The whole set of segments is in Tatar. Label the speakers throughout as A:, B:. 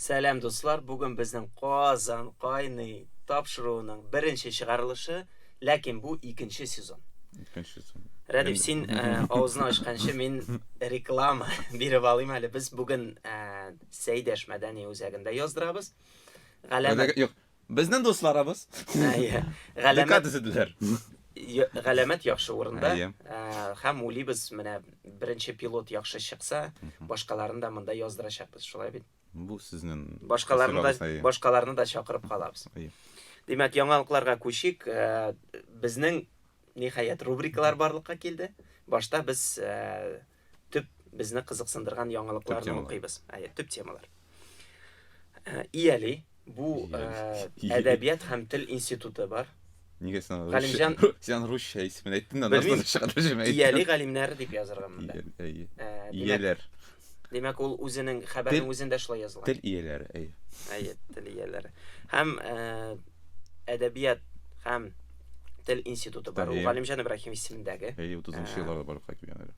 A: Сәлам дуслар, бүген безнең Казан кайный тапшыруының беренче чыгарылышы, ләкин бу икенче сезон. Икенче сезон. Рәдип, син э, авызны ачканчы мин реклама биреп алыйм әле. Без бүген э, Сәйдәш мәдәни үзәгендә яздырабыз. Галәмәт.
B: Юк, Безнең дусларыбыз. Әйе.
A: Галәмәт дизедләр.
B: Галәмәт
A: яхшы урында. Һәм улибыз менә беренче пилот яхшы чыкса, башкаларын да монда яздырачакбыз, шулай бит? Бу сезнең
B: башкаларны да
A: башкаларны да чакырып калабыз. Димәк, яңалыкларга күчик. Безнең ниһаять рубрикалар барлыкка килде. Башта без Төп безне кызыксындырган яңалыкларны укыйбыз. Әйе, төп темалар. Э, Ияли бу э, әдәбият һәм тел институты бар. Нигә син
B: Галимҗан
A: син русча
B: исемен әйттең дә, нәрсә чыгып җимә. Ияли галимнәр дип
A: язырга монда. Э, ияләр.
B: Димәк,
A: ул үзенең хәбәрнең үзендә шулай языла. Тел ияләре, әйе.
B: Әйе, тел
A: ияләре. Һәм әдәбият һәм тел институты бар. Ул Галимҗан Ибраһим исемендәге. Әйе, 30 нчы елларда барлыкка
B: килгән әле.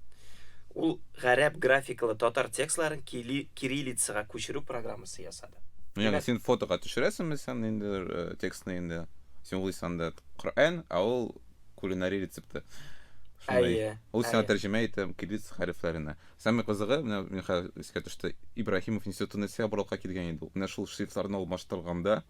B: Ул
A: гарәп графикалы татар текстларын кириллицага күчерү программасы ясады. Ну, ягъни син фотога
B: төшерәсеңме сән ниндидер э, текстны инде? Син ул исәндә Коръән, а ул кулинари рецепты. Әйе. Ул сиңа тәрҗемә итә кириллиц хәрефләренә. Самый кызыгы, менә мин хәзер искә төште, Ибраһимов институтына сәбралка килгән иде. Менә шул шрифтларны алмаштырганда,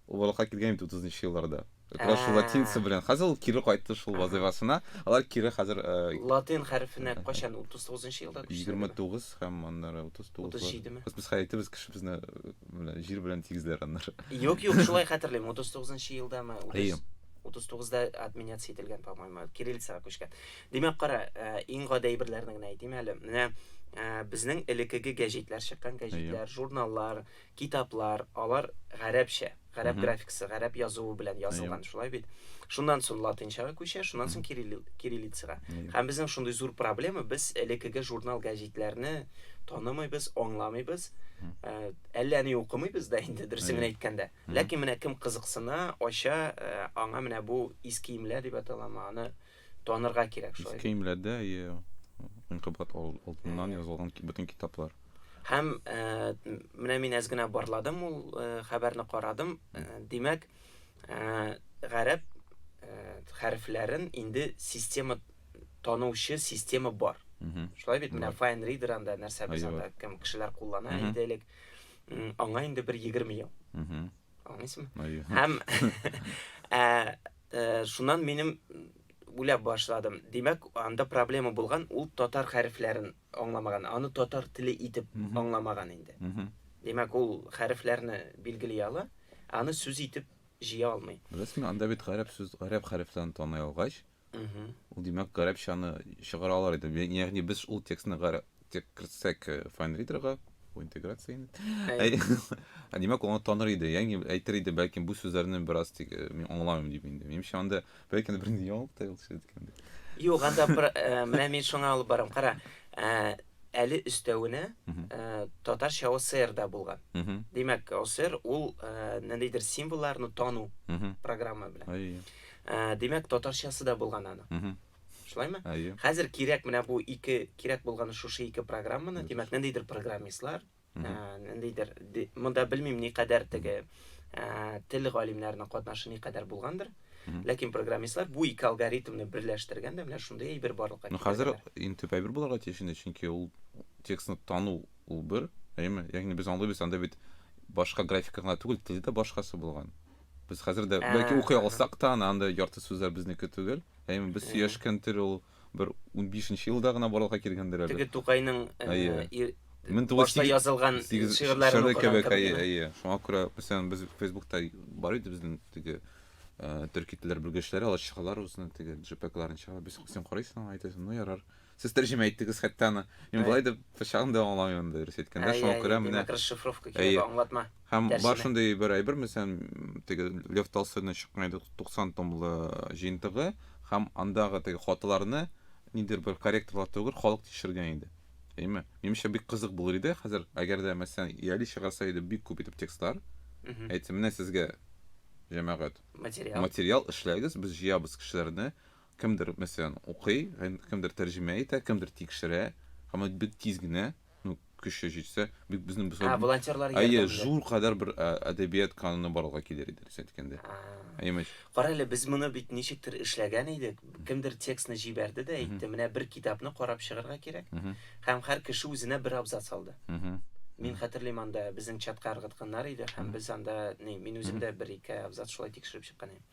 B: ул барлыкка килгән бит утызынчы елларда Акраш Ә. латинцы белән. Хәзер ул кире кайтты шул вазыйфасына. Алар кире хәзер э, Латин хәрефенә
A: кайчан 39 елда күчте? 29 һәм
B: аннары 39. 37 ме? Без хәзер әйтебез
A: кешебезне
B: э, менә җир белән тигезләр аннары. Юк, юк, шулай
A: хәтерлим. 39 елдамы? 30 Әйе. 39да отменяться ителгән, по-моему, кириллицага күчкән. Димәк, кара, э, иң гади әйберләрне генә әйтим әле. Менә э, безнең элеккеге гәҗитләр чыккан, гәҗитләр, журналлар, Китаплар, алар гарәпчә, гарәп графикасы, гарәп язуы белән язылган, шулай бит? Шуннан соң латынчага күчә, шуннан соң кириллицага. Һәм безнең шундый зур проблема, без элеккеге журнал-гәҗитләрне танымыйбыз, аңламыйбыз, әллә ни укымыйбыз да инде, дөресен генә әйткәндә. Ләкин менә кем кызыксына, ача, аңа менә бу искиемләр дип аталамы, аны Танырга кирәк шул. Иске имләдә и
B: инкыбат алдыннан язылган бөтен китаплар. Һәм
A: менә мин әз генә барладым ул хәбәрне карадым. Димәк, гарәп хәрефләрен инде система танучы система бар. Шулай бит менә Fine Reader анда нәрсә без анда кем кешеләр куллана иде элек. Аңа инде бер 20 ел. Аңлыйсыңмы? Һәм Шуннан минем уйлап башладым. Димәк, анда проблема булган, ул татар хәрефләрен аңламаган, аны татар теле итеп аңламаган инде. Димәк, ул хәрефләрне билгели ала, аны сүз итеп җыя алмый. Беләсеңме, анда бит гарәп
B: сүз, гарәп хәрефләрен таный алгач, ул димәк, гарәпчаны чыгара алар иде. Ягъни без ул текстны гарәп тек кертсәк э, файнридерга бу интеграция инде ә димәк ул таныр иде ягъни әйтер иде бәлкем бу сүзләрне бераз тик э, мин аңламыйм дип инде минемчә анда бәлкем бер яңалык та юк анда э,
A: менә мин шуңа алып барам кара әле өстәвенә татарча оср да булган димәк оср ул ниндидер символларны тану программа белән димәк татарчасы да булган аның Шулаймы? Әйе. Хәзер кирәк менә бу ике кирәк булганы шушы ике программаны, димәк, ниндидер программистлар, ниндидер монда белмим ни кадәр теге тел галимнәренең катнашы ни кадәр булгандыр. Ләкин программистлар бу ике алгоритмны берләштерген дә менә шундый әйбер барлыкка китерә. Ну хәзер иң төп әйбер
B: булырга тиеш инде, чөнки ул текстны тану ул бер, әйеме? Ягъни без аңлыйбыз, анда бит башка графика гына түгел, тел дә башкасы булган. Без хәзер дә, Ә, бәлки укый ага. алсак та, аны андый ярты сүзләр безнеке түгел. Әйе, без Әйе. сөйләшкән тел ул бер унбишенче елда гына барлыкка килгәндер әле. Теге Тукайның э, Әйе.
A: ир- Мең тугыз башта сигез- язылган Сигез шигырьләрен шигырь укыган кебек, кебек, әйе, да? әйе. Шуңа күрә, мәсәлән,
B: без Фейсбукта бар иде безнең теге э, төрки телләр белгечләре, алар чыгалар үзенең теге джипекларын чыгара. Без, син карыйсың аңа, әйтәсең, ну ярар. Сез тәрҗемә иттегез хәтта аны. Мин болай да берчагын да аңламыйм анда дөрес әйткәндә, шуңа күрә менә. Димәк, расшифровка кирәк,
A: аңлатма. Һәм бар шундый
B: бер әйбер, мәсәлән, теге Лев Толстойның чыккан иде 90 томлы җыентыгы, һәм андагы теге хаталарны нидер бер корректорлар түгел, халык тикшергән иде. Әйме? Минемчә бик кызык булыр иде. Хәзер, әгәр дә мәсәлән, Яли чыгарса иде бик күп итеп текстлар. Әйтсә, менә сезгә җәмәгать. Материал. Материал эшләгез, без җыябыз кешеләрне. Кемдер, мәсәлән, укый, кемдер тәрҗемә итә, кемдер тикшерә, һәм ул бик тиз генә, ну, көче җитсә, бик безнең без А, волонтерлар ярдәм Әйе,
A: зур кадәр
B: бер ә, әдәбият кануны барлыкка килер иде, дөрес әйткәндә. Әйеме? Кара
A: әле, без моны бит ничектер эшләгән идек. Кемдер текстны җибәрде дә әйтте, менә бер китапны карап чыгарга кирәк. Һәм һәр кеше үзенә бер абзац алды. Мин хәтерлим анда безнең чатка ыргытканнар иде, һәм без анда, ни, мин үзем дә бер-ике абзац шулай тикшереп чыккан идем.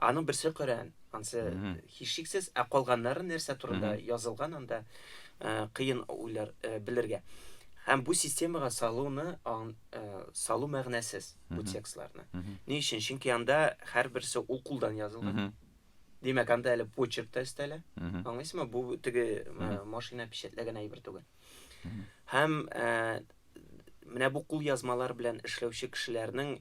A: Аның берсе Коръән, ансы һичшиксез, ә калганнары нәрсә турында язылган анда э, кыен уйлар э, белергә. Һәм бу системага салуны э, салу мәгънәсез бу текстларны. Ни өчен? Чөнки анда һәрберсе ул кулдан язылган. Димәк, анда әле почерк та өстәлә. Аңлыйсызмы? Бу теге машина печатләгән әйбер түгел. Һәм ә, менә бу кул язмалар белән эшләүче кешеләрнең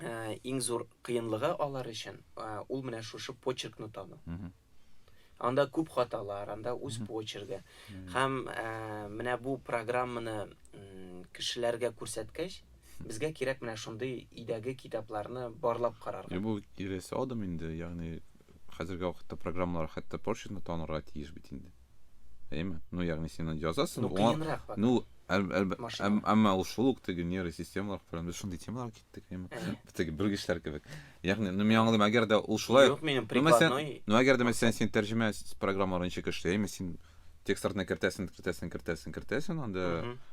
A: ә, иң зур кыенлыгы алар өчен ә, ул менә шушы почеркны тану. Анда күп хаталар, анда үз почерге. Һәм ә, менә бу программаны кешеләргә күрсәткәч, безгә кирәк менә шундый өйдәге китапларны барлап карарга. Бу кирәсе адым
B: инде, ягъни хәзерге вакытта программалар хәтта почеркны танырга тиеш бит инде. Әйме? Ну, ягъни син аны язасың. Ну, кыенрак бак. Ну, әмма ул шул ук теге нервы системалар фәлән без шундый темалар киттек, әйме? Теге белгечләр кебек. Ягъни, ну, мин аңладым, әгәр дә ул шулай. Юк, минем прикладной. Ну, әгәр дә мәсәлән син тәрҗемә программаларын ничек эшли, әйме? Син текстларны кертәсең, кертәсең, кертәсең, кертәсең, анда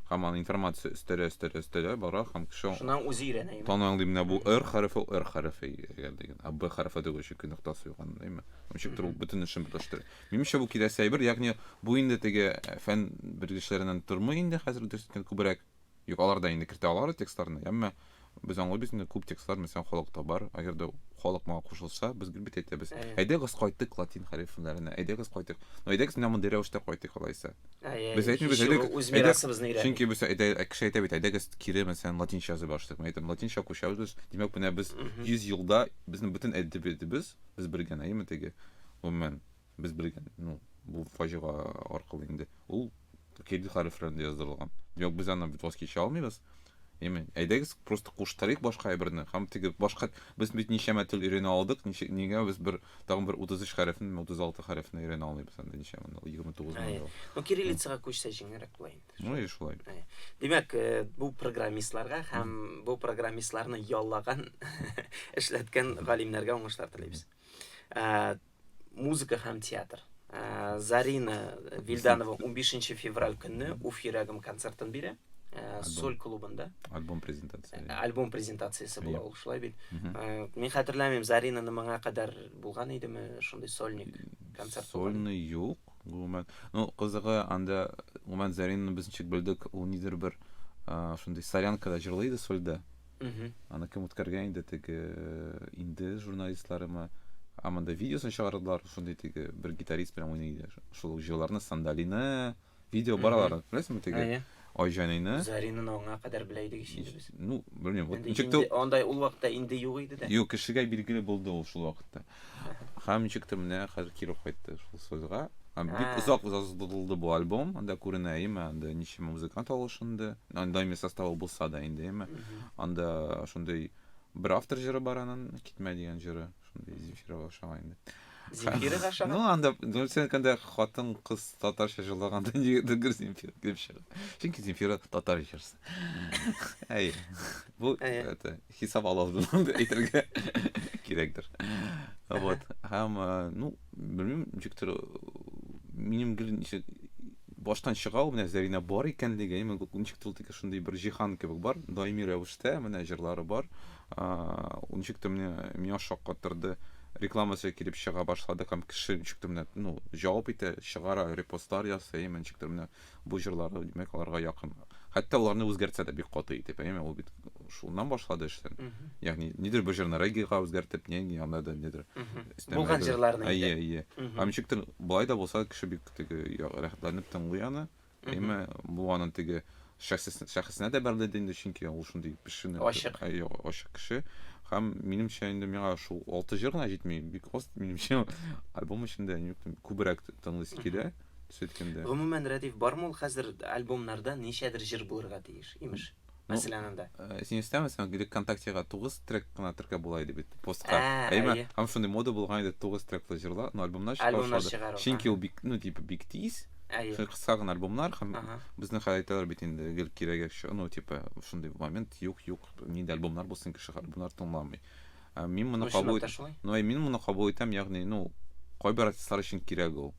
B: һаман информация өстәлә, өстәлә, өстәлә, бара һәм кеше. Шуннан үзе өйрәнә, әйме? Тан
A: аңлый менә бу R
B: хәрефе, R хәрефе, әгәр дигән, а B хәрефе дигән өчен нуктасы юк анда, әйме? Ничек тору бөтен эшен бетләштерә. Минемчә, бу киләсе әйбер, ягъни бу инде теге фән белгечләреннән тормый инде хәзер дөрес әйткәндә күбрәк. Юк, алар да инде кертә алар текстларны, әмма без аңлыйбыз инде күп текстлар мәсәлән халыкта бар, әгәр дә халык моңа кушылса, без гел бит әйтәбез. Әйдәгез кайтык латин хәрефләренә, әйдәгез кайтык. Ну әйдәгез менә мондый рәвештә кайтык алайса. Без әйтмибез, әйдәгез. Чөнки без әйдә кеше әйтә бит, әйдәгез кире мәсәлән латинча язып башлыйк. Мин әйтәм, латинча күчәбез без. Димәк, менә без 100 елда безнең бөтен әдәбиятыбыз без белгән әйеме теге гомумән без белгән ну бу фаҗига аркылы инде ул кирилл хәрефләрендә яздырылган юк без аны бит воскича алмыйбыз Яме, әйдәгез просто куштарыйк башка әйберне һәм теге башка без бит ничәмә тел өйрәнә алдык ничек нигә без бер тагын бер 33 хәрефне 36 хәрефне өйрәнә алмыйбыз анда ничәмә 29 мең ну кириллицага
A: күчсә җиңелрәк була инде Ну и шулай. Э,
B: димәк, э,
A: бу программистларга һәм бу программистларны яллаган, эшләткән галимнәргә уңышлар телибез. Э, музыка һәм театр. Зарина Вильданова 15 февраль көнне Уф йөрәгем концертын бирә. Соль клубында. Альбом презентациясе.
B: Альбом презентациясе
A: була ул шулай бит. Мин хәтерләмим, Заринаны моңа кадәр булган идеме шундый сольник концерт? Сольный юк.
B: Гомумән, ну кызыгы анда, гомумән Заринны без ничек белдек, ул нидер бер шундый солянкада җырлый иде сольда. Аны кем үткәргән инде теге инде журналистларымы? Ә монда видеосын чыгардылар, шундый теге бер гитарист белән уйный иде. Шул җырларны Сандалины, видео бар алар, беләсеңме теге? Айҗаныйны. Заринны аңа
A: кадәр белә идек ич без. Ну, белмим, вот
B: ничек тә андай ул вакытта инде
A: юк иде дә. Юк, кешегә билгеле булды
B: ул шул вакытта. Һәм ничек тә менә хәзер кире кайтты шул сольга. Һәм бик Ә. озак озатылды бу альбом, анда күренә име, анда ничәмә музыкант алышынды, ан- даими составы булса да инде име. Анда шундый бер автор җыры бар анын, Китмә дигән җыры, шундый Земфирага ошаган инде. Земфирага
A: ошаган? Ну, анда, ну, сен
B: әйткәндә, хатын кыз татарча җырлаганда нигәдер гел Земфира килеп чыга. Чөнки Земфира татар җырчысы. Әйе. Бу, Әйе. это, хисап ала алдым дип әйтергә кирәкдер вот һәм э, ну белмим ничектер минем гел ничек баштан чыга ул менә зәринә бар икәнлеге именно ничектер ул тике шундый бер җиһан кебек бар даими рәвештә менә җырлары бар ничектер менә миңа шаккатырды рекламасы килеп чыга башлады һәм кеше ничектер менә ну җавап итә чыгара репостлар ясый именно ничектер менә Бу җырлары, димәк, аларга якын. Хәтта аларны үзгәртсә дә бик каты итеп, әйеме? Ул бит шуннан башлады эшен. Ягъни, нидер бер җырны регига үзгәртеп, не, не, анда да нидер. Булган җырларны.
A: Әйе, әйе. Һәм
B: ничектер, былай да булса, кеше бик теге рәхәтләнеп тыңлый аны. Әйеме, бу аның теге шәхесенә дә бәрелде инде, чөнки ул шундый пешене. Ачык. Әйе, ачык кеше. Һәм минемчә инде миңа шул алты җыр гына җитми, бик аз минемчә альбом эчендә күбрәк тыңлыйсы килә. сөт кемдә? Гомумән, Рәдиф, бармы
A: ул хәзер альбомнарда ничәдер җыр булырга тиеш, имеш. Мәсәлән, анда. Э, син өстәме, син гелек
B: ВКонтактега 9 трек кына теркәп була иде бит постка. Ә, әйе. Әйе. Һәм шундый мода булган иде 9 треклы җырлар, но альбомнар чыга Альбомнар башлады. чыгару, Чөнки
A: ул бик, ну,
B: типа бик тиз. Әйе. Шундый кыска гына альбомнар һәм Ага. безнең хәл әйтәләр бит инде гел кирәге, ш- ну, типа шундый момент юк, юк, нинди альбомнар булсын, кеше альбомнар тыңламый. Ә мин моны кабул ну, мин моны кабул итәм, ягъни, ну, кайбер артистлар өчен кирәк ул.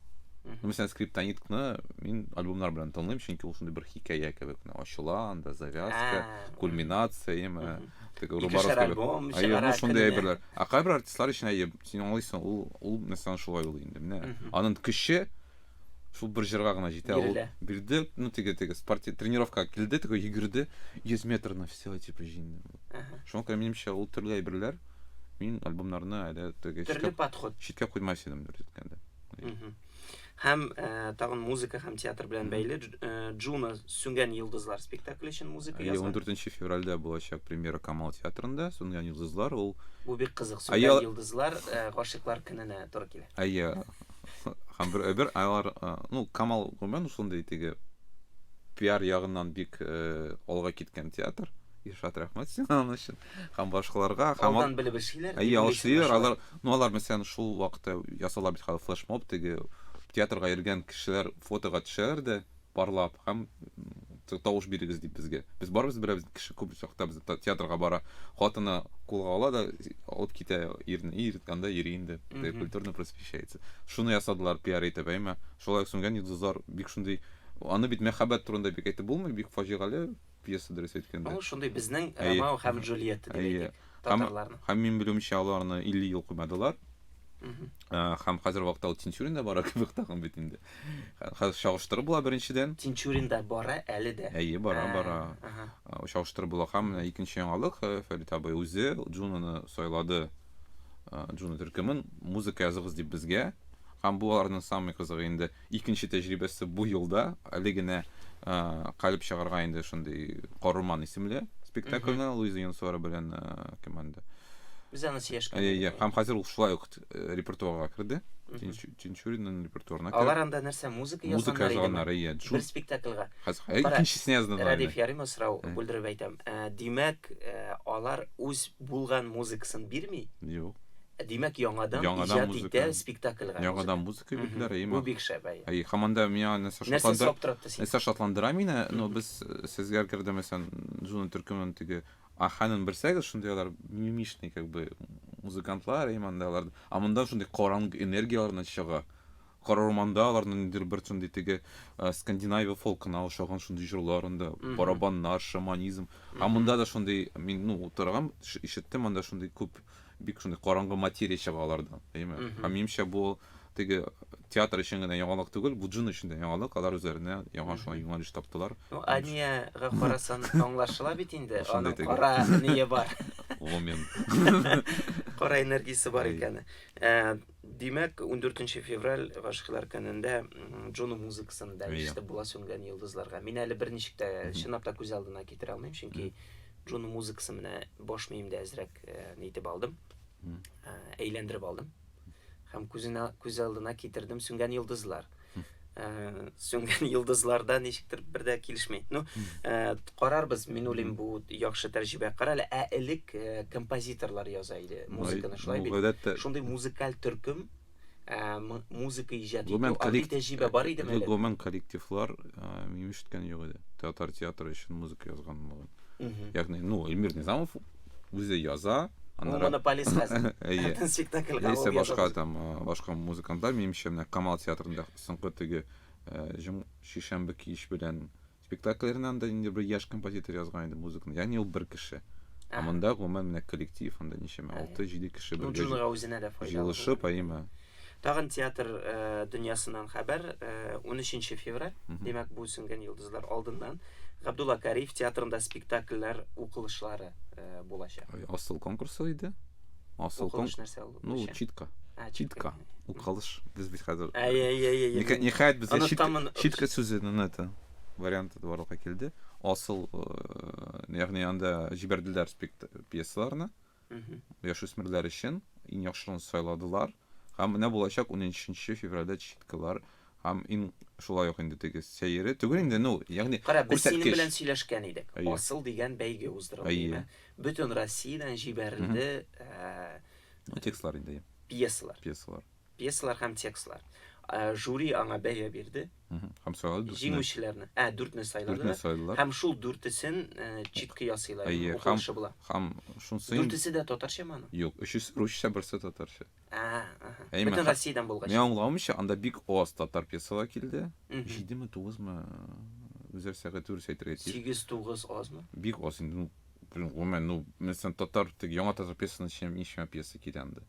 B: Мәсәлән, скриптониткны мин альбомнар белән тыңлыйм, чөнки ул шундый бер хикәя кебек, ачыла анда завязка, кульминация, яме, теге рубаров кебек. Әйе, ну шундый әйберләр. Ә кайбер артистлар өчен әйе, син аңлыйсың, ул ул мәсәлән шулай ул инде, менә. Аның көче шул бер җырга гына җитә ул бирде ну теге теге спорти тренировкага килде теге йөгерде йөз метрны все типа җиңде шуңа күрә минемчә ул төрле әйберләр мин альбомнарны әле теге төрле подход читкә куймас идем дөрес әйткәндә һәм
A: ә, э, тагын музыка һәм театр белән бәйле э, Джуна сүнгән йолдызлар спектакле өчен музыка язды. 14 февральдә
B: булачак премьера Камал театрында сүнгән йолдызлар ул Бу бик кызык. Сүнгән
A: йолдызлар э, гашыйклар көненә туры килә. Әйе.
B: һәм бер әйбер алар ну камал гомумән шундый теге пиар ягыннан бик э, алга киткән театр Ильшат рәхмәт сиңа аның өчен һәм башкаларга һәм алдан белеп эшлиләр
A: әйе алышлыйлар алар ну
B: алар мәсәлән шул вакытта ясала бит хәзер флешмоб теге театрга йөргән кешеләр фотога төшәләр дә барлап һәм тавыш бирегез дип безгә. Без барыбыз берәбез кеше күп чакта без театрга бара. Хатыны кулга ала да алып китә ирне. Ир анда йөри инде. Культурно просвещается. Шуны ясадылар пиар итеп, әйме. Шулай сүнгән йолдызлар бик шундый аны бит мәхәббәт турында бик әйтеп булмый, бик фаҗигале пьеса, дөрес әйткәндә. Ул шундый безнең Ромео
A: һәм Джульетта дип әйтик, татарларның. Һәм мин белүемчә,
B: алар аны 50 ел куймадылар. Һәм хәзер вакытта ул Тинчуринда бара кебек тагын бит инде. Хәзер чагыштыру була беренчедән. Тинчуринда бара
A: әле дә. Әйе, бара, бара.
B: Чагыштыру була һәм менә икенче яңалык, Фәрит абый үзе Джунаны сайлады. Джуна төркемен музыка языгыз дип безгә. Һәм бу аларның самый кызыгы инде. Икенче тәҗрибәсе бу елда, әле генә Калеб чыгарга инде шундый Корыман исемле спектакльне Луиза Янсуара белән кем анда? Без аны
A: сөйләшкән. Иә, һәм хәзер ул шулай
B: ук репертуарга керде. Тинчуринның репертуарына керде. Алар анда нәрсә, музыка язганнар?
A: Музыка язганнар, иә. Бер спектакльга. Хәзер икенчесенә
B: язганнар. Радиф Ярыма сорау
A: бүлдереп әйтәм. Димәк, алар үз булган музыкасын бирми? Юк.
B: Димәк, яңадан
A: иҗат итә спектакльга. Яңадан кебекләр,
B: әйе, Бу бик шәп, әйе.
A: Әйе, һаман да миңа нәрсә
B: Нәрсә шатландыра? шаптыратты сине? Нәрсә шатландыра мине? Ну, без э, сезгә керде, мәсәлән, Джуна төркемен теге Аханын белсәгез, шундый алар мимишный, как бы, музыкантлар, әйе, монда алар. А монда шундый караңгы энергияләрне чыга. Кара урманда аларның ниндидер бер шундый теге э, Скандинавия фолкына ошаган шундый җырларын да, Мгм. барабаннар, шаманизм. А Мгм. монда да шундый, мин, ну, утырган, ш- ишеттем, монда шундый күп Бик шундый караңгы материя чыга алардан, әйме? Һәм минемчә бу теге театр өчен генә яңалык түгел, бу джин өчен дә яңалык, алар үзләренә яңа шуңа юнәлеш таптылар. Ну, Аниягә
A: карасан аңлашыла бит инде, аның кара ние бар. Ломен. Кара энергиясе бар икәне. Э, димәк, 14 февраль гашыйклар көнендә Джону музыкасын да ишетеп була сүнгән йолдызларга. Мин әле берничек тә чынлап та күз алдына китерә алмыйм, чөнки Джону музыкасы менә баш миемдә әзрәк нитеп алдым, әйләндереп алдым һәм күзенә күз алдына китердем сүнгән йолдызлар. Сүнгән йолдызларда ничектер бер дә килешми. Ну, карарбыз, мин уйлыйм, бу яхшы тәҗрибә. Кара әле, ә элек композиторлар яза иде музыканы, шулай бит. Шундый музыкаль төркем музыка иҗат итү андый тәҗрибә бар идеме әле гомумән коллективлар
B: мин ишеткән юк иде татар театры өчен музыка язганлыгын ягъни ну эльмир низамов үзе яза монополист
A: хәзер әйе спектакльгә яисә башка там
B: башка музыкантлар минемчә менә камал театрында соңгы теге җом шишәмбе кич белән Спектакльләренә анда инде бер яшь композитор язган иде музыканы. Ягъни ул бер кеше. Ә монда гомумән менә коллектив, анда ничәмә 6-7 кеше бергә. Ну, Джунга үзенә дә файдалы.
A: Җылышып, әйеме.
B: Тагын театр
A: дөньясыннан хәбәр. 13 февраль, димәк, бу сүнгән йолдызлар алдыннан Габдулла Кариев театрында спектакльләр укылышлары булачак. Асыл конкурсы
B: иде. Асыл конкурс нәрсә ул? Ну, Ничә? читка. А, Читка. Укалыш. Без бит хәзер. Әй, әй, әй, әй, Ниһа- әй. Ниһаять безгә Аны читка, тамын- читка сүзенең это варианты да барлыкка килде. Асыл, э, ягъни анда җибәрделәр спект- пьесаларны. Мгм. яшүсмерләр өчен иң яхшыларын сайладылар һәм менә булачак 13 февральдә читкалар һәм иң шулай ук инде теге сәере түгел инде ну ягъни Кара, без синең күрсәткеч. белән
A: сөйләшкән идек. Әйе. Асыл дигән бәйге уздырылды, Әйе. димә. Бөтен Россиядән җибәрелде.
B: Ә, текстлар инде. Пьесалар. Пьесалар.
A: Пьесалар һәм текстлар. Ә, жюри аңа бәя бирде. Һәм сайлады.
B: Җиңүчеләрне. Ә, дүртне
A: сайлады. Дүртне сайлады. Һәм шул дүртесен э, читки ясыйлар. Әйе, һәм, һәм шунсы...
B: Дүртесе дә татарча
A: маны? Юк, өчесе русча,
B: берсе татарча. Әй, Бөтен
A: Россиядән булгач. Мин аңламыйча, анда бик
B: аз татар пьесалар килде. 7-ме, 9-мы? Үзәр сәгать дөрес әйтергә тиеш. 8-9 азмы? Бик
A: аз инде. Ну,
B: гомумән, ну, мәсәлән, татар, тик яңа татар пьесасының эченә ничә пьеса килә анда?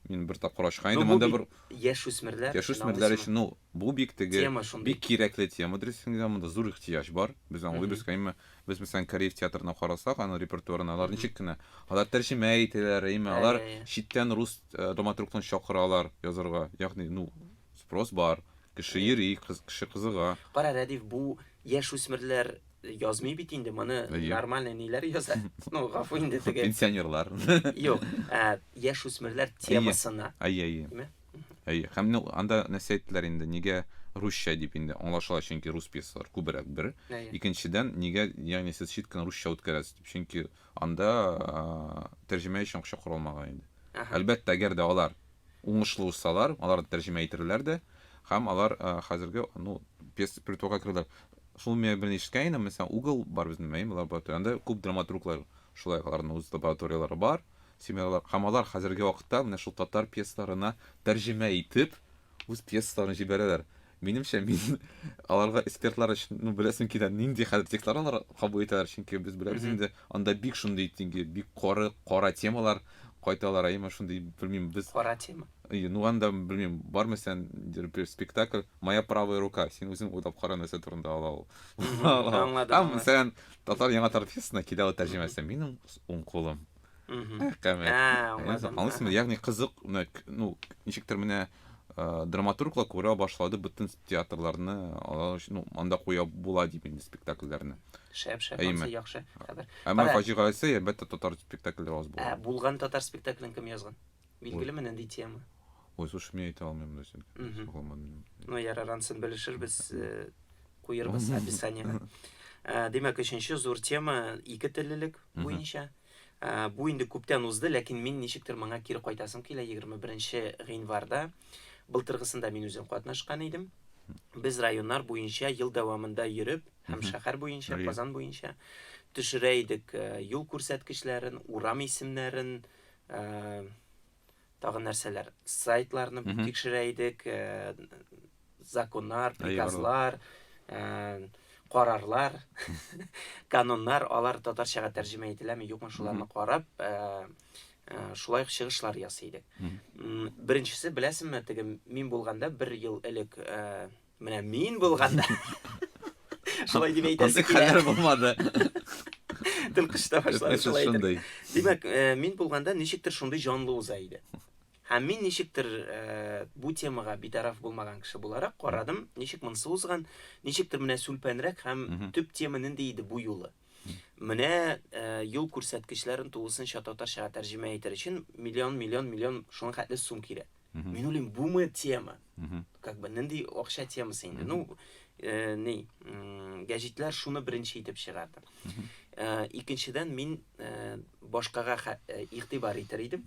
B: Мин бер тапкыр ачкан идем, анда бер яшүсмерләр.
A: Яшүсмерләр өчен, ну,
B: Бу бик теге, Тема шундый. бик кирәкле тема дөресен генә, монда зур ихтыяҗ бар. Без аңлыйбыз, Мгм. әмма без мәсәлән кореев театрына карасак, аның репертуарына алар Мгм. ничек кенә, алар тәрҗемә итәләр, әйме, Ә, алар я, я. читтән рус э, драматургны чакыралар язарга. Ягъни, ну, спрос бар, кеше Әйе. йөри, кыз, кеше кызыга. Кара, Рәдиф, бу
A: яшүсмерләр язмый бит инде, моны Әйе. нормальный ниләр яза. Ну, гафу инде теге. Пенсионерлар.
B: Юк,
A: ә, яшүсмерләр темасына. Әйе, әйе. Димә.
B: Әйе, һәм менә анда нәрсә әйттеләр инде, нигә русча дип инде аңлашыла, чөнки рус пьесалары күбрәк бер. Әйе. Икенчедән, нигә, ягъни сез чит кенә русча үткәрәсез дип, чөнки анда тәрҗемә өчен акча каралмаган инде. Әһә. Әлбәттә, әгәр дә алар уңышлы узсалар, алар да тәрҗемә итерләр дә, һәм алар хәзерге, ну, пьеса репертуарга керерләр. Шул миңа берни ишеткән идем, мәсәлән, угол бар безнең, әйеме, лаборатория, анда күп драматурглар, шулай ук аларның үз лабораторияләре бар, семинарлар, һәм алар хәзерге вакытта менә шул татар пьесаларына тәрҗемә итеп үз пьесаларын җибәрәләр. Минемчә, мин аларга экспертлар өчен, ну, беләсем килә, нинди хәзер текстлар алар кабул итәләр, чөнки без беләбез инде, анда бик шундый тинге, бик коры, кара темалар кайталар, әйеме, шундый, белмим, без... Кара тема. И, ну,
A: анда, белмим,
B: бармы сән, бер спектакль, Моя правая рука, син үзең уйлап кара нәрсә турында ала ул. Аңладым. Һәм,
A: мәсәлән,
B: Татар яңа тартфесына килә ул тәрҗемәсе. Минем уң кулым. Әкәмәт. Аңлыйсыңмы? Ягъни кызык, ну, ничектер менә драматурглар күрә башлады бөтен театрларны алар өчен ну анда куя була дип инде спектакльләрне шәп шәп анысы
A: яхшы хәбәр әмма фаҗигасе
B: әлбәттә татар спектакльләре аз булган ә булган татар спектаклен
A: кем язган Билгелеме нинди тема? Ой, слушай, мин
B: әйтә алмыйм да син. Ну, ярар, ансын
A: белешербез, э, куербыз описаниега. Э, димәк, өченче зур тема ике теллелек буенча. Э, бу инде күптән узды, ләкин мин ничектер моңа кире кайтасым килә 21 гыйнварда. Былтыргысында мин үзем катнашкан идем. Без районнар буенча ел дәвамында йөреп һәм шәһәр буенча, Казан буенча төшерә идек э, юл күрсәткечләрен, урам исемнәрен, Ә, тагын нәрсәләр? Сайтларны mm -hmm. тикшерә идек, ә, законнар, приказлар, ә, карарлар, кануннар, алар татарчага тәрҗемә ителәме, юкмы, шуларны карап, ә, ә, шулай ук чыгышлар ясый идек. Mm -hmm. Беренчесе, беләсеңме, теге мин булганда бер ел элек, ә, Менә мин булганда шулай дип әйтәсе килә. Хәлләр булмады. Тел кышта башлады шулай шундый. Димәк, э, мин булганда ничектер шундый җанлы уза иде. Һәм мин ничектер э, бу темага битараф булмаган кеше буларак карадым, ничек монсы узган, ничектер менә сүлпәнрәк һәм төп тема нинди иде бу юлы. Менә юл күрсәткечләрен тулысынча татарчага тәрҗемә итәр өчен миллион, миллион, миллион шуның хәтле сум кирәк. Мин уйлыйм, бумы тема? Как бы нинди акча темасы инде? Ну, ни, гәҗитләр шуны беренче итеп чыгарды. Икенчедән, мин башкага игътибар итәр идем.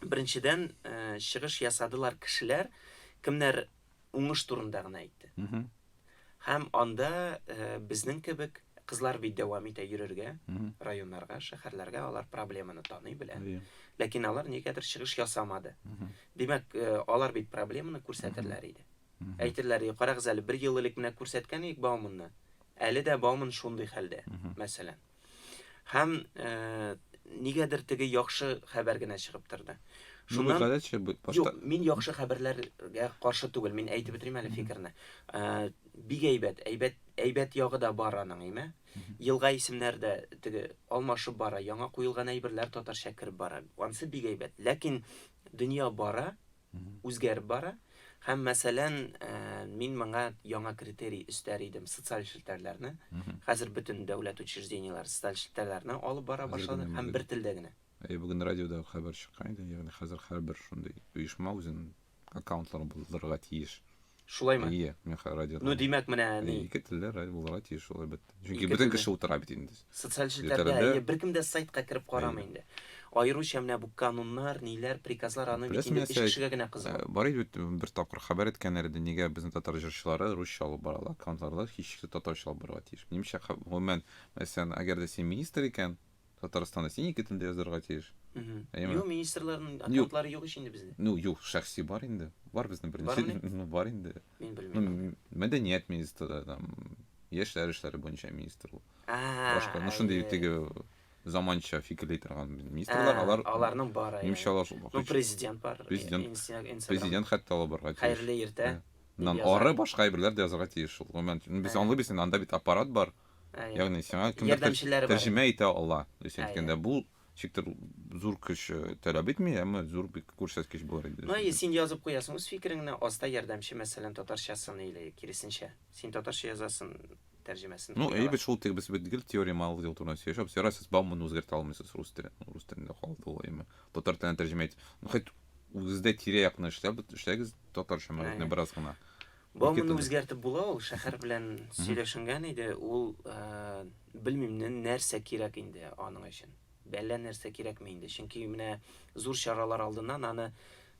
A: Беренчедән, чыгыш ясадылар кешеләр, кемнәр уңыш турында гына әйтте. Һәм анда э, безнең кебек кызлар бит дәвам итә йөрергә, районнарга, шәһәрләргә алар проблеманы таный белә. Ләкин алар нигәдер чыгыш ясамады. Димәк, э, алар бит проблеманы күрсәтерләр иде. Әйтерләр, карагыз әле, бер ел элек менә күрсәткән идек Бауманны. Әле дә Бауман шундый хәлдә, мәсәлән. Һәм э, нигәдер теге яхшы хәбәр генә чыгып торды. Шуннан гадәтчә
B: башта. Юк, мин
A: яхшы хәбәрләргә каршы түгел. Мин әйтеп бетерим әле фикерне. Э, бик әйбәт, әйбәт, әйбәт ягы да бар аның, әйме? Елга исемнәре дә теге алмашып бара, яңа куелган әйберләр татарча кереп бара. Ансы бик әйбәт. Ләкин дөнья бара, үзгәреп бара. Һәм, мәсәлән, мин моңа яңа критерий өстәр идем, социаль челтәрләрне. Хәзер бөтен дәүләт учреждениеләре социаль челтәрләрне алып бара башлады һәм бер телдә генә. Әйе, бүген
B: радиода хәбәр чыккан иде, ягъни хәзер һәрбер шундый оешма үзенең аккаунтларын булдырырга тиеш. Шулаймы? Ие,
A: мин хәзер радиода.
B: Ну, димәк, менә ни.
A: Ие, ике телле радио булырга
B: тиеш шул әлбәттә. Чөнки Ике бөтен телле. кеше утыра бит инде. Социаль челтәрдә Челтәрдә.
A: әйе, беркем дә сайтка кереп карамый Әйе. инде. Аеруча менә бу кануннар, ниләр, приказлар аны бит Беләсең, инде нәрсә, өч кешегә генә кызык. Э, Бар иде бит, бер
B: тапкыр хәбәр иткәннәр иде, нигә безнең татар җырчылары русча алып баралар, аккаунтларда һичшиксез татарча алып барырга тиеш. Минемчә, хә- гомумән, мәсәлән, әгәр дә син министр икән, Татарстанда син ике телдә язырга тиеш. Юк,
A: министрларның аккаунтлары юк ич инде бездә. Ну, юк, шәхси бар
B: инде. Бар безнең беренче. Ну, бар инде. Мин белмим.
A: Мәдәният министры
B: там, яшьләр эшләре буенча министр ул. Башка, ну шундый теге заманча фикерли торган министрлар, алар аларның бары. Нимчә
A: алар шул. Ну,
B: президент бар.
A: Президент. Президент
B: хәтта алып барга тиеш. Хәерле иртә.
A: Нан ары
B: башка әйберләр дә язырга тиеш шул. Гомумән, без аңлыйбыз, анда бит аппарат бар. Әйе. Ягъни сиңа кемдер Ярдәмчеләре бар. тәрҗемә итә ала. То есть Әйе. әйткәндә бу чиктер зур көч э, таләп итми, әмма зур бик күрсәткеч булыр иде. Ну, әйе, син язып куясың
A: үз фикереңне, аста ярдәмче, мәсәлән, татарчасын или киресенчә. Син татарча язасың, тәрҗемәсен. Ну, куялар. әйе бит шул тег без
B: бит гел теория малый дел турында сөйләшәбез. Ярар, сез бауманы үзгәртә алмыйсыз рус теле, рус телендә калды ул әйеме. Татар теленә тәрҗемә ит. Ну, хоть үзегездә тирә-якны эшләп эшләгез татарча мәгънәне Әйе. бераз гына. Бу Ике моны телдә. үзгәртеп
A: була ул, шәхәр белән сөйләшенгән иде, ул э, белмим нә- нәрсә кирәк инде аның өчен. Бәллә нәрсә кирәкме инде, чөнки менә зур чаралар алдыннан аны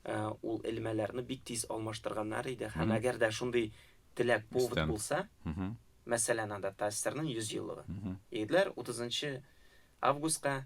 A: э, ул элмәләрне бик тиз алмаштырганнар иде һәм Мгм. әгәр дә шундый теләк повод Истән. булса, Мгм. мәсәлән, анда ТАССРның 100 еллыгы. Мгм. Егетләр 30 августка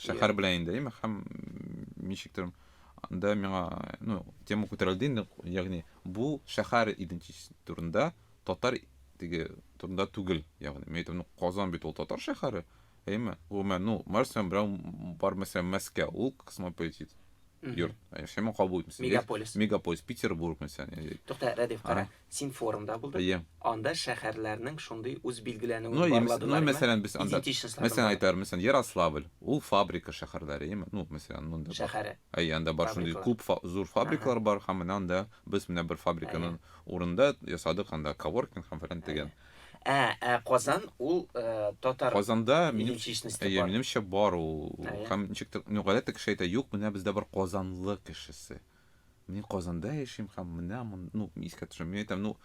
B: шәһәр белән инде әйме һәм ничектер анда миңа ну тема күтәрелде инде ягъни бу шәһәр идентичес турында татар теге турында түгел ягъни мен әйтәм ну казан бит ул татар шәһәре әйме гомумән ну мәсәлән берәү бар мәсәлән мәскәү ул космополитит йорт яшәмә кабул итмәсен мегаполис мегаполис петербург мәсәлән тукта рәдиф кара
A: Син форумда булдың? Әйе. Анда шәһәрләрнең шундый үз билгеләнүен Ну, әйе, мис- ну, мәсәлән,
B: без анда, Идентичностьларын мәсәлән, бар. әйтәр, мәсәлән, Ярославль, ул фабрика шәһәрләре, әйеме? Ну, мәсәлән, монда бар. Шәһәре. Әйе, анда бар
A: шундый Фабрикалар.
B: күп фа- зур фабрикалар бар, һәм менә анда без менә бер фабриканың урында ясадык анда коворкинг һәм фәлән тегән. Ә, ә Казан
A: ул э, татар Казанда, минем,
B: идентичносте әйе, бар. минемчә, бар ул. Әйе. Һәм ничектер, ну, гадәттә кеше әйтә, юк, менә бездә бар казанлы кешесе. Мин Казанда яшим һәм менә мон, ну, искә төшерәм. Мин әйтәм, ну,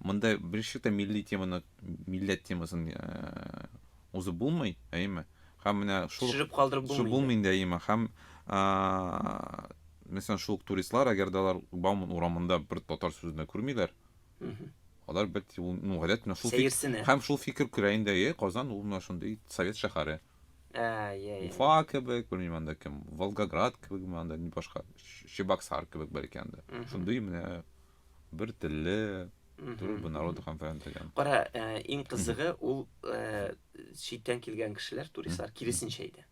B: монда беренче тә милли теманы, милләт темасын э, узып булмый, әйеме? Һәм менә шул Төшереп калдырып шул булмый. булмый
A: инде, әйеме?
B: Һәм а, мәсәлән, шул ук туристлар, әгәр дә алар Бауман урамында бер татар сүзен дә күрмиләр, Мгм. алар бит ул, ну, гадәт менә шул фик- Сәерсенә. һәм шул фикер күрә инде, е, Казан ул менә шундый совет шәһәре. Ә, я, я. Уфа кебек, белмим анда кем, Волгоград кебек ме анда, башка, Чебоксар кебек бәлки анда. Шундый менә бер телле, төрле бер народ конференц дигән. Кара, ә, иң
A: кызыгы ул ә, читтән килгән кешеләр, туристлар киресенчә иде.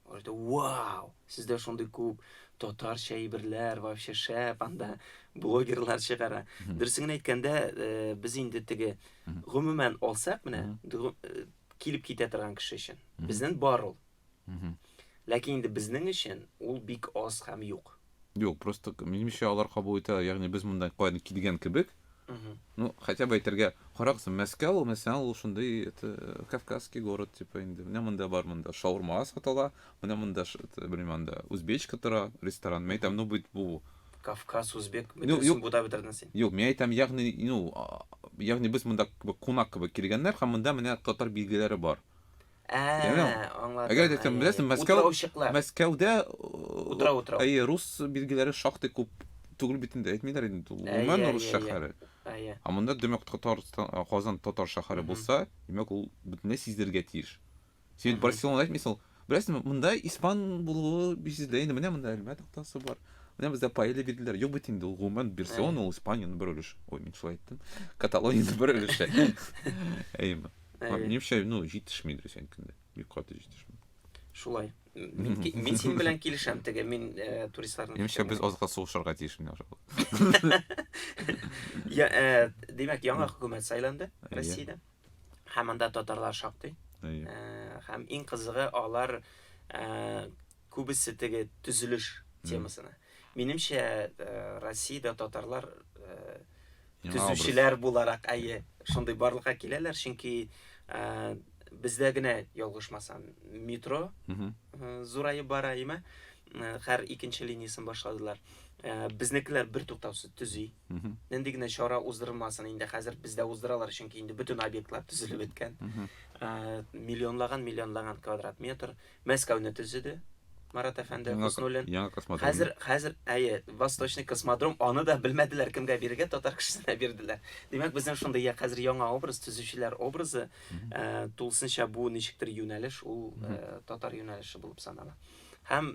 A: Алар әйтә, Вау! Сездә шундый күп татарча әйберләр, вообще шәп, анда блогерлар чыгара. Дөресен генә әйткәндә, ә, без инде теге гомумән алсак, менә ду- э, килеп китә торган кеше өчен. Безнен бар ул. Ләкин инде безнең өчен ул бик аз һәм юк. Юк, просто
B: минемчә алар кабул итә, ягъни без монда каян килгән кебек. Ну, хотя бы әйтергә, карагыз, Мәскәү ул мәсәлән ул шундый это кавказский город типа инде. Менә монда бар монда шаурма сатала, менә монда белмим анда узбечка тора, ресторан. Мен әйтәм, ну бит бу Кавказ, Узбек,
A: бөтенесен бутап бетердең син. Юк, мин әйтәм, ягъни,
B: ну, ягъни без монда кунак кебек килгәннәр һәм монда менә татар билгеләре бар. Ә,
A: аңладым. Әгәр дә син беләсең,
B: Мәскәү, Мәскәүдә утра утра. Әйе, рус билгеләре шактый күп түгел бит инде, әйтмиләр инде, гомумән рус шәһәре. Әйе. Ә монда димәк Татарстан, Казан татар шәһәре булса, димәк ул бөтенләй сизелергә тиеш. Син Мгм. Барселона әйтмисең ул. Беләсеңме, монда испан булуы бизидә инде. Менә монда Әлмәт тактасы бар. Менә бездә паэлья бирделәр. Юк бит инде ул гомумән Барселона ул Испаниянең бер өлеше. Ой, мин шулай әйттем. Каталониянең бер өлеше. Әйеме. Әйе. Минемчә, ну, җитешми инде синекендә. Бик каты җитешми. Шулай.
A: Мин, ки- мин синең белән килешәм теге, мин э, туристларның Минемчә, фикеренә. без азга
B: сугышырга тиеш менә ошо. Я,
A: э, димәк, яңа хөкүмәт сайланды Россиядә. һәм анда татарлар шактый ә, һәм иң кызыгы алар ә, күбесе теге төзелеш темасына минемчә ә, россиядә татарлар ә, төзүчеләр буларак әйе шундый барлыкка киләләр чөнки ә, бездә генә ялгышмасам метро ә, зураеп бара име хәр икенче линиясен башладылар. Безнекеләр бер туктаусыз төзи. Нинди генә чара уздырылмасын инде хәзер бездә уздыралар, чөнки инде бөтен объектлар төзелеп беткән. Миллионлаган, миллионлаган квадрат метр Мәскәүне төзеде. Марат әфәнде Хуснуллин. Яңа космодром. Хәзер хәзер әйе, Восточный космодром, аны да белмәделәр кемгә бирергә, татар кешесенә бирделәр. Димәк, безнең шундый я хәзер яңа образ, төзүчеләр образы, тулысынча бу ничектер юнәлеш, ул татар юнәлеше булып санала. Һәм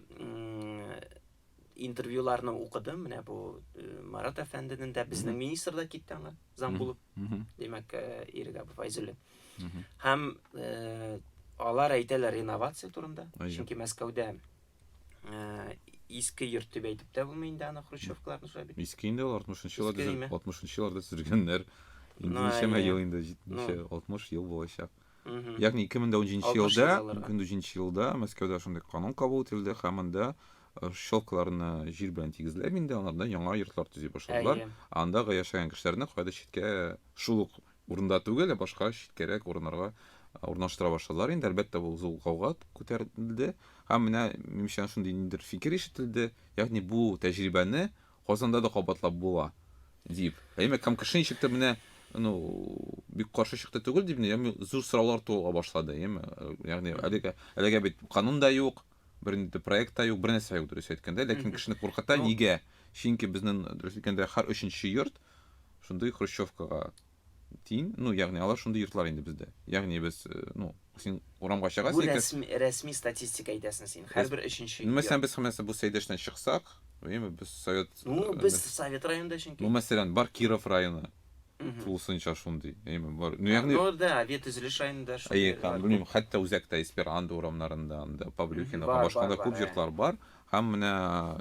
A: интервьюларны укыдым, менә бу э, Марат әфәнденең дә, безнең министр да китте аңа, зам булып, димәк, э, Ирек Абу Файзуллин. Һәм э, алар әйтәләр инновация турында, чөнки Мәскәүдә иске йорт дип әйтеп тә булмый инде аны хрущевкаларны шулай бит. Иске инде ул 60-нчы
B: елларда 60-нчы елларда төзелгәннәр. Инде ничәмә ел инде 70 60 ел булачак. ягъни ике мең дә унҗиденче елда унҗиденче елда мәскәүдә шундый канун кабул ителде һәм анда э, щелкаларны җир белән тигезләп инде анардан яңа йортлар төзи башладылар анда яшәгән кешеләрне кайда читкә шул ук урында түгел ә башка читкәрәк урыннарга э, урнаштыра башладылар инде әлбәттә бу зур гауга күтәрелде һәм менә минемчә шундый ниндидер фикер ишетелде ягъни бу тәҗрибәне Казанда да кабатлап була, дип. Әйме, кам кеше ничек тә менә, ну, бик каршы чыкты түгел дип, яме зур сораулар туыла башлады, яме. Ягъни әлегә, әлегә бит канун да юк, бернинди проект та юк, бернәрсә юк, дөрес әйткәндә, ләкин кешене куркыта, нигә? Чөнки безнең, дөрес әйткәндә, һәр өченче йорт шундый хрущевкага Тин, ну, ягъни алар шундый йортлар инде бездә. Ягъни без, э, ну, син урамга чыгасың. Бу рәсми, рәсми
A: статистика әйтәсең син. Һәрбер өченче. Ну, мәсәлән, без хәмәсә бу
B: Сәйдәштән чыксак, әйеме, без Совет. Ну, э, без Совет
A: районында чөнки. Ну, мәсәлән, бар Киров
B: районы. Тулысынча шундый. Әйеме, бар. Ну, ягъни. Ну, да, Авет төзелеш
A: районында шундый. Әйе, кан, белмим,
B: хәтта үзәктә Эсперандо урамнарында, анда Павлюхина, башканда күп йортлар бар. Һәм менә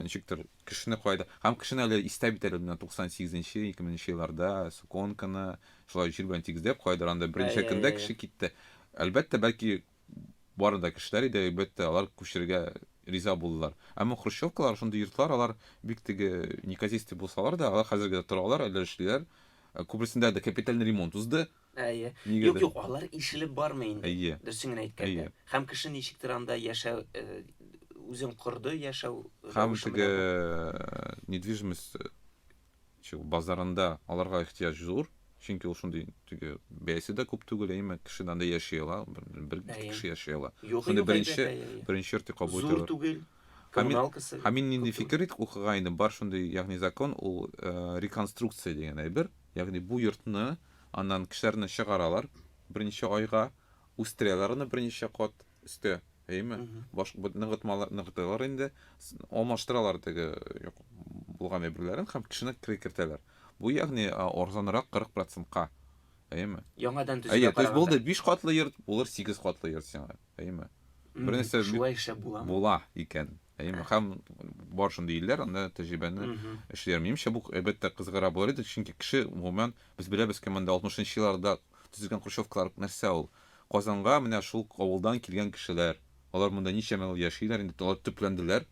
B: ничектер Кешене кайда, һәм кешене әле истә бит әле менә 98 нче, 2000 нче елларда Суконканы шулай җир белән тигезләп, кайдыр анда берничә Әйе, көндә әйе. кеше китте. Әлбәттә, бәлки бары да кешеләр иде, әлбәттә, алар күчерергә риза булдылар. Әмма хрущевкалар, шундый йортлар, алар бик теге неказистый булсалар да, алар хәзергә дә торалар, әле эшлиләр. Күбрәсендә дә капиталь ремонт узды. Әйе. Юк, юк,
A: алар ишелеп бармый инде. Әйе. Дөресен генә әйткәндә. Һәм кеше ничектер анда яшәү үзен корды, яшәү. Һәм теге
B: недвижимость базарында аларга ихтыяҗ зур, чөнки ул шундый теге бәясе дә күп түгел, әйеме, кеше анда яши ала, бер кеше яши ала. Шундый беренче, беренче йорт дип кабул итәләр. Зур түгел.
A: Коммуналкасы. Һәм мин нинди фикер
B: итеп укыган идем, бар шундый, ягъни закон ул реконструкция дигән әйбер, ягъни бу йортны Аннан кешеләрне чыгаралар берничә айга, үстерәләр аны берничә кат өстә, әйеме? Баш ныгытмалар ныгыталар инде, алмаштыралар теге юк булган әйберләрен һәм кешене кертәләр. Бу ягъни арзанрак 40 процентка, әйеме? Яңадан төзүгә караганда. Әйе,
A: то есть булды биш катлы
B: йорт, булыр сигез катлы йорт сиңа. әйеме? Бернәрсә шулай эшләп буламы?
A: Була икән.
B: Әйеме? Һәм бар шундый илләр, анда тәҗрибәне эшлиләр. Минемчә, бу әлбәттә кызыгыра булыр иде, чөнки кеше гомумән без беләбез кем анда 60-нчы елларда төзелгән хрущевкалар нәрсә ул? Казанга менә шул авылдан килгән кешеләр. Алар монда ничәмә ел яшиләр, инде алар төпләнделәр.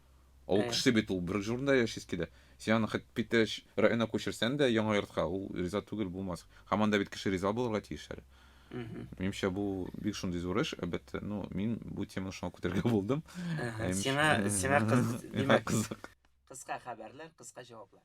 B: Ул э. кеше бит ул бер җурында яшисе килә. Син аны хәтта Питәш районына күчерсән дә яңа йортка, ул риза түгел булмас. Һәм анда бит кеше риза булырга тиеш әле. Минемчә бу бик шундый зур эш, әлбәттә. Ну, мин бу теманы шуңа күтәрергә булдым. Сиңа
A: сиңа кыз, димәк, кызык. Кыска хәбәрләр, кыска җаваплар.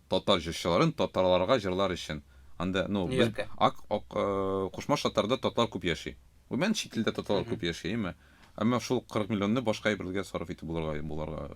B: Татар җырчыларын татарларга җырлар өчен. Анда, ну, без ак, ак, Кушма Шатарда татар күп яши. Гомумән чит илдә татарлар күп яши, әйме? Әмма шул 40 миллионны башка әйберләргә сарыф итеп булырга, булырга.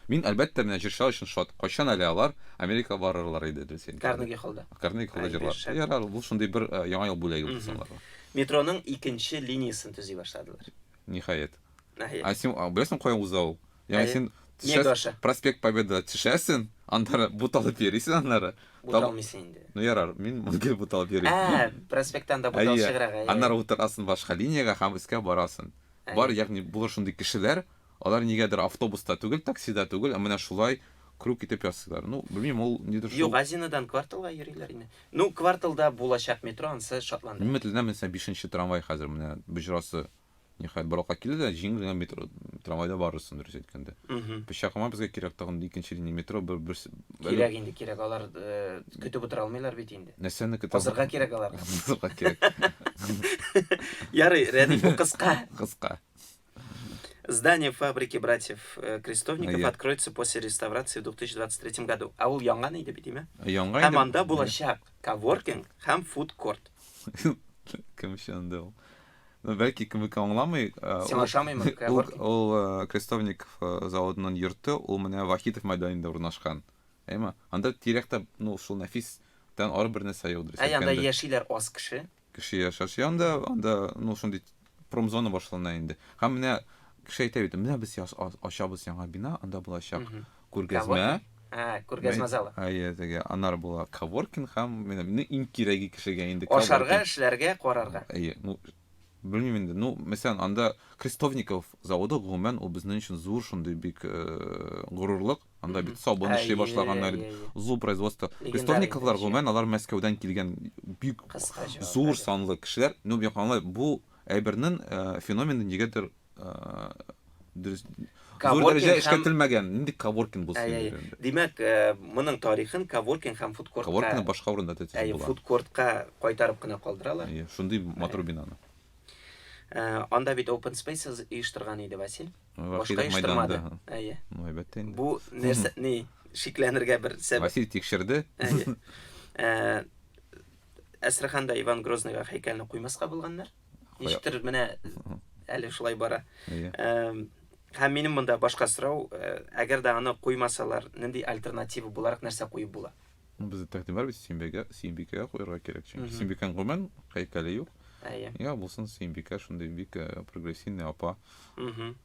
B: Мин, әлбәттә, менә җырчылар өчен шат. Кайчан әле алар Америка барырлар иде, Дөлсин. Карнеги холлда. Карнеги
A: холлда җырлар.
B: Ярар, бу шундый бер яңа ел бүләге булсын аларга. Метроның икенче
A: линиясен төзи башладылар. Ниһаять.
B: Әйе. Ә син а, беләсең кая уза ул? Ягъни Әйе. син төшәс- Мегаша. проспект Победа төшәсең, аннары буталып йөрисең аннары. Таб- Буталмыйсың инде.
A: Ну ярар, мин
B: гел буталып йөрим. Ә, проспекттан да бутал Әйе.
A: чыграк. әйе. Аннары утырасың башка
B: линиягә һәм өскә барасың. Әйе. Бар, ягъни булыр шундый кешеләр, алар нигәдер автобуста түгел, таксида түгел, ә менә шулай круг итеп ясыйлар. Ну, белмим, ул нидер шул. Юк, Азинадан кварталга
A: йөриләр инде. Ну, кварталда булачак метро, ансы шатландыра. Мин өметләнәмен, сән бишенче
B: трамвай хәзер менә боҗрасы Ниһаять бер вакыт килде дә җиңел генә метро трамвайда барырсың дөрес әйткәндә. Пычакыма безгә кирәк тагын икенче линия метро бер бер Кирәк инде кирәк
A: алар э, көтеп утыра алмыйлар бит инде. Нәрсәне көтә? Азырга кирәк
B: алар.
A: Азырга кирәк.
B: Ярый,
A: Рәдиф бу кыска. Кыска. Здание фабрики братьев э, Крестовников yeah. откроется после реставрации в 2023 году. А ул яңа иде бит, диме? Яңа иде. Һәм анда
B: булачак
A: коворкинг һәм фудкорт.
B: Кем өчен анда ул? Бәлки кемеке аңламый. Син ашамыймы?
A: Ул Крестовник
B: заводының йорты, ул менә Вахитов мәйданында урнашкан. Әйме? Анда тирәктә, ну, шул Нәфис тән ары бер нәрсә юк дөрес әйткәндә. Ә анда яшиләр аз
A: кеше. Кеше яшәши анда,
B: анда, ну, шундый промзона башлана инде. Һәм менә кеше әйтә бит, менә без ачабыз яңа бина, анда булачак Күргәзмә. Ә,
A: күргәзмә залы. Әйе, теге анар
B: була коворкинг һәм менә мине иң кирәге кешегә инде коворкинг. Ашарга, эшләргә,
A: карарга. Әйе, ну
B: белмим инде. Ну, мәсәлән, анда Крестовников заводы гомумән ул безнең өчен зур шундый бик горурлык. Анда бит сабын эшли башлаганнар, зур производство. Крестовниковлар гомумән алар Мәскәүдән килгән бик зур санлы кешеләр. Ну, бу әйбернең феномены нигәдер дөрес зур дәрәҗә эшкәртелмәгән нинди каворкин булсын инде димәк
A: моның тарихын каворкин һәм фудкорт каворкин башка урында да
B: әйе фудкортка кайтарып
A: кына калдыралар әйе шундый матур
B: бинаны
A: анда бит open spaces оештырган иде василь башка оештырмады әйе ну әлбәттә
B: инде бу нәрсә ни
A: шикләнергә бер сәбәп василь тикшерде
B: әйе
A: әстраханда иван грозныйга һәйкәлне куймаска булганнар Ничектер менә әле шулай бара. Һәм минем монда башка сорау, әгәр дә аны куймасалар, нинди альтернатива буларак нәрсә куеп була? Ну, бездә тәкъдим бар
B: бит, Симбикә, Симбикә куярга кирәк, чөнки Симбикән гомумән һәйкәле юк. Әйе. Йә булсын Симбикә, шундый бик прогрессивный апа.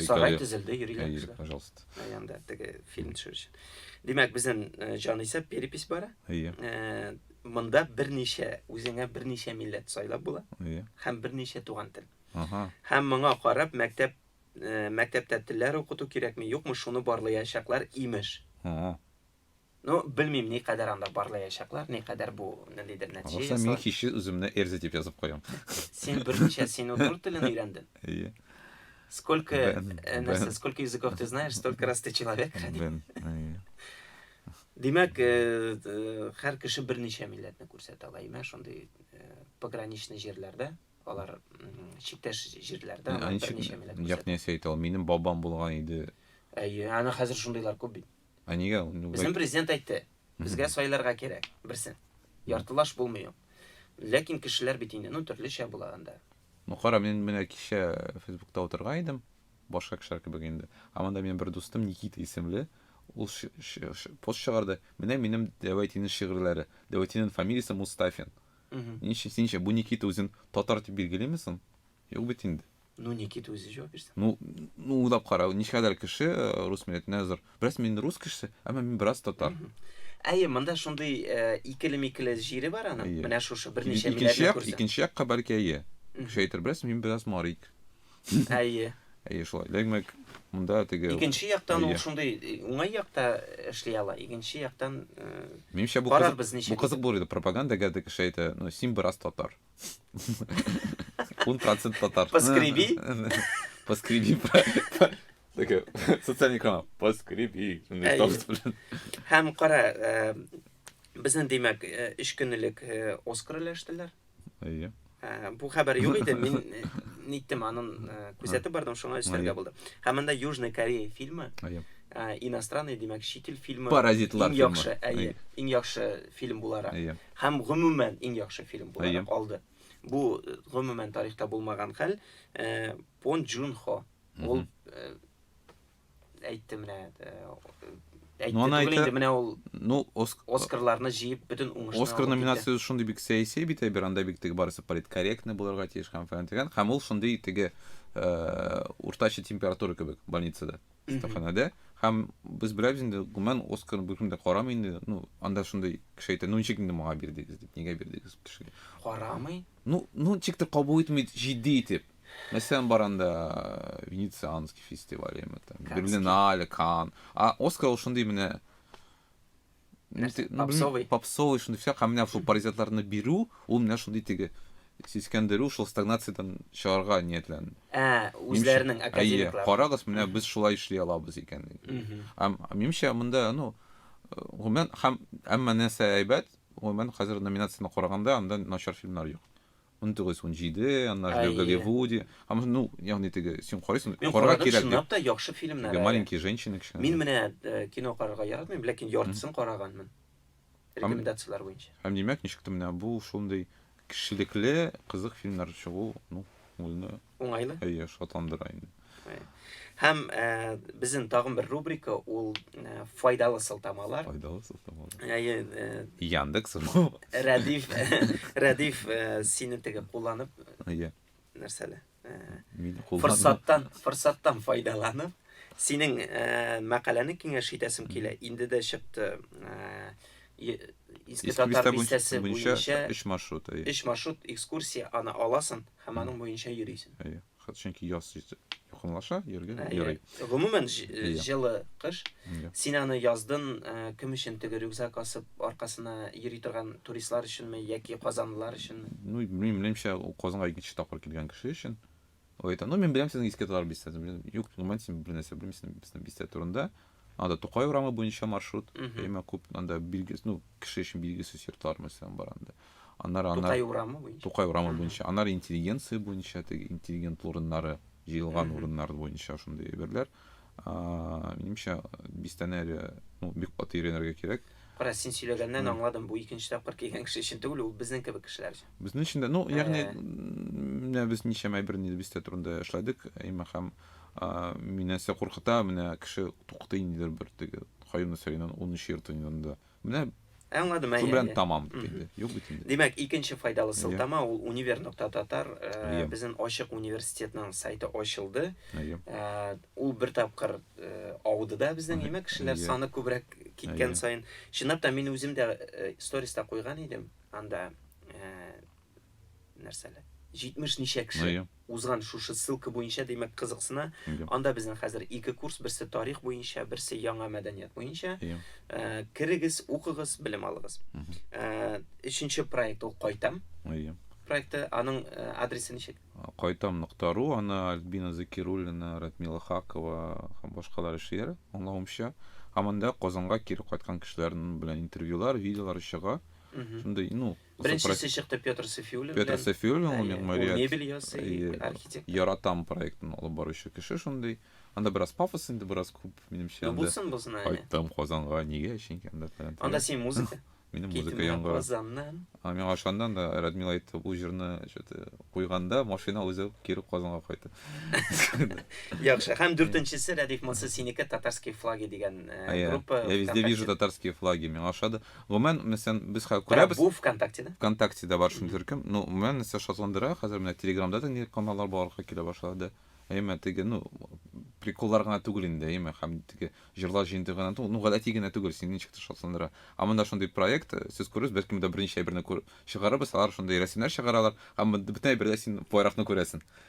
B: Сарай төзелде,
A: йөриләр. Әйе, пожалуйста. Янда
B: теге
A: фильм төшерү өчен. Димәк, безнең э, җанисәп перепись бара. Әйе. Э, монда берничә, үзеңә берничә милләт сайлап була. Әйе. Һәм берничә туган тел. Ага. Һәм моңа карап мәктәп э, мәктәптә телләр укыту кирәкме, юкмы, шуны барлаячаклар имеш. Ага. Ну, белмим, ни кадәр анда барлаячаклар, ни кадәр бу ниндидер нәтиҗә ясар. Алса, мин кичке үземне
B: Эрзя дип язып куям. Син берничә
A: син утур телен өйрәнден. Ие. Сколько, э, нәрсә, сколько языков ты знаешь, столько раз ты человек. Бен, ие. Димәк, э, э, һәр кеше берничә милләтне күрсәтә ала. Имә шундый э, пограничный җирләрдә, алар чиктәш җирләрдә алар берничә милләт. Ягъни, сәйтал, минем
B: бабам булган иде. Әйе, аны хәзер
A: шундыйлар күп бит. Ә нигә? Безнең
B: президент
A: әйтте, безгә сайларга кирәк, берсен. Яртылаш булмый ул. Ләкин кешеләр бит инде, ну, төрлечә була анда. Ну, кара, мин
B: менә кичә Фейсбукта утырган идем, башка кешеләр кебек инде. Ә монда минем бер дустым Никита исемле, ул пост чыгарды. Менә минем Дәвәйтинең шигырьләре. Дәвәйтинең фамилиясе Мустафин. Ничә, синчә, бу Никита үзен татар дип билгелиме соң? Юк бит инде. Ну, Никита үзе җавап
A: бирсен. Ну, ну уйлап
B: кара, ничкәдер кеше э, рус милләтенә зур. Бераз мин рус кешесе, әмма мин бераз татар. Әйе, монда
A: шундый э, икеле-микеле җире бар аны. Әйе. Менә шушы берничә Икенче як, күрсә. икенче якка бәлки әйе.
B: Кеше әйтер, бераз мин бераз марик. Әйе. Әйе, шулай. Дәгмәк, монда теге Икенче яктан ул шундый
A: э, уңай якта эшли ала. Икенче яктан Минемчә бу
B: кызык, бу кызык булыр иде пропагандага да кеше әйтә, ну син бераз татар. Un процент татар. Поскреби.
A: Поскреби.
B: Такая социальный канал. Поскреби.
A: Һәм кара, э, безнең димәк, э, өч көнлек э, Оскар өләштеләр. Әйе. Бу хәбәр юк иде, мин ниттем анын күзәтеп бардым, шуңа өстәргә булды. Һәм монда Южная Корея фильмы. Әйе. Иностранный, димәк, чит ил фильмы. Паразитлар фильмы. Иң яхшы,
B: әйе, иң яхшы
A: фильм буларак. Әйе. һәм гомумән иң яхшы фильм буларак алды. Бу гомумән тарихта булмаган хәл. Пон Джун Хо. Ул әйтте менә әйтте ну, түгел инде менә ул
B: ну оск... оскарларны җыеп бөтен
A: уңышны оскар номинациясе шундый
B: бик сәяси бит әйбер анда бик теге барысы политкорректный булырга тиеш һәм фәлән дигән һәм ул шундый теге э, уртача температура кебек больницада Стаханада. Һәм без беләбез инде, гомумән Оскар бүген дә карамый инде. Ну, анда шундый кеше әйтә, ну ничек инде моңа бирдегез дип, нигә бирдегез кешегә? Карамый?
A: Ну, ну ничек тә
B: кабул итми җитди итеп. Мәсәлән, бар анда Венецианский фестиваль, яме там, Берлинале, Кан. А Оскар ул шундый менә нәрсә попсовый попсовый шундый всяк һәм менә шул паразитларны бирү ул менә шундый теге сискәндерү шул стагнациядән чыгарга ниятләнде ә үзләренең
A: академиклар карагыз менә без шулай
B: эшли алабыз икән һәм минемчә монда ну гомумән һәм әмма нәрсә әйбәт гомумән хәзер номинацияне караганда анда начар фильмнар юк унтугыз унҗиде аннары Әйе. голливуди һәм ну ягъни теге син карыйсың Мин карарга карадым, кирәк чынлап та яхшы фильмнар.
A: теге әле. маленькие женщины кечкенә
B: Мин менә э, кино
A: карарга яратмыйм, ләкин яртысын караганмын. Рекомендацияләр буенча. һәм димәк ничек тә менә
B: бу шундый кешелекле кызык фильмнар чыгу ну ул
A: Уңайлы? Әйе, шатландыра
B: инде. Һәм
A: ә, безнең тагын бер рубрика ул ә, файдалы сылтамалар. Файдалы сылтамалар.
B: Әйе. Ә,
A: Яндекс. Рәдиф, Рәдиф ә, сине теге кулланып. Әйе. Нәрсәле? Ә, Мин кулланып. Форсаттан, форсаттан файдаланып, синең ә, мәкаләне киңәш итәсем килә. Инде дә чыкты. Ә, Иске татар бистәсе буенча 3 маршрут. 3 маршрут экскурсия аны аласың. Һәм аның буенча йөрисең. Әйе. Чөнки яз
B: якынлаша, йөргә ярый. Гомумән,
A: җылы кыш. Син аны яздын кем өчен теге рюкзак асып аркасына йөри торган туристлар өченме яки казанлылар өченме? Ну, минем белемчә, ул
B: Казанга икенче тапкыр килгән кеше өчен. Ул әйтә, ну, мин беләм сезнең иске татар бистәсен. Юк, гомумән, син бернәрсә белмисең безнең бистә турында. Анда Тукай урамы буенча маршрут, әмма күп анда билгес, ну, кеше өчен билгесез йортлар мәсәлән бар анда. Аннары анда Тукай урамы буенча. Тукай урамы буенча. Аннары интеллигенция буенча, теге интеллигент урыннары, җыелган урыннар буенча шундый әйберләр. Минемчә, бистәне әле, ну, бик каты өйрәнергә кирәк. Кара, син сөйләгәннән
A: аңладым, бу икенче тапкыр килгән кеше өчен түгел, ул безнең кебек кешеләр өчен. Безнең өчен дә, ну, ягъни,
B: менә без ничәмә әйберне бистә турында эшләдек, әмма һәм Мине нәрсә куркыта, менә кеше тукты ниндидер бер теге Каюм Насыйриның унынчы йорты янында. Менә Аңладым, әйе. Шубран
A: тамам
B: диде. Юк бит инде. Димәк, икенче файдалы
A: сылтама ул универ.татар, безнең ачык университетның сайты ачылды. Ул бер тапкыр ауды да безнең, димәк, кешеләр саны күбрәк киткән саен. Чынлап та, мин үзем дә сториста куйган идем анда. нәрсәле? 70 ничә кеше ну, узган шушы ссылка буенча, димәк, кызыксына. Yeah. Анда безнең хәзер ике курс, берсе тарих буенча, берсе яңа мәдәният буенча. Yeah. Э, керегез, укыгыз, белем алыгыз. Mm -hmm. Э, өченче проект ул кайтам. Yeah. Проекты аның э, адресы ничек? Кайтам нуктару,
B: аны Альбина Закируллина, Радмила Хакова һәм башкалар эшләр, аңлавымча. Һәм анда Казанга кире кайткан кешеләр белән интервьюлар, видеолар чыга. Шундый, ну, Беренчесе
A: чыкты Петр Сафиуллин белән. Петр
B: Сафиуллин ул мәгмәрият. Мебель ясый,
A: архитектор. Яратам проектын
B: алып баручы кеше шундый. Анда бераз пафос инде, бераз күп, минемчә. Ну булсын, булсын, әйе. Кайттым
A: Казанга,
B: нигә, чөнки анда фәлән. Анда син музыка.
A: Минем музыка яңгырый.
B: Казаннан. А миңа
A: ошаннан да
B: Радмил әйтте, бу җырны что-то куйганда машина үзе кире Казанга кайта.
A: Яхшы. Һәм дүртенчесе Рәдиф Масы синеке татарские флаги дигән группа. Я везде вижу татарские
B: флаги. Миңа ошады. Гомумән, мәсәлән, без хәзер күрәбез. Бу ВКонтактеда?
A: ВКонтактеда бар шундый
B: төркем. Ну, гомумән, нәрсә шатландыра, хәзер менә Телеграмда да нинди каналлар барлыкка килә башлады. Әйме, теге, ну, приколлар гына түгел инде, әйме, һәм теге җырлар җыентыгы гына түгел, ну, гадәти генә түгел, сине ничек тә шатландыра. Ә монда шундый проект, сез күрерсез, бәлки монда берничә әйберне чыгарырбыз, алар шундый рәсемнәр чыгаралар, һәм бөтен әйбердә син байракны күрәсең.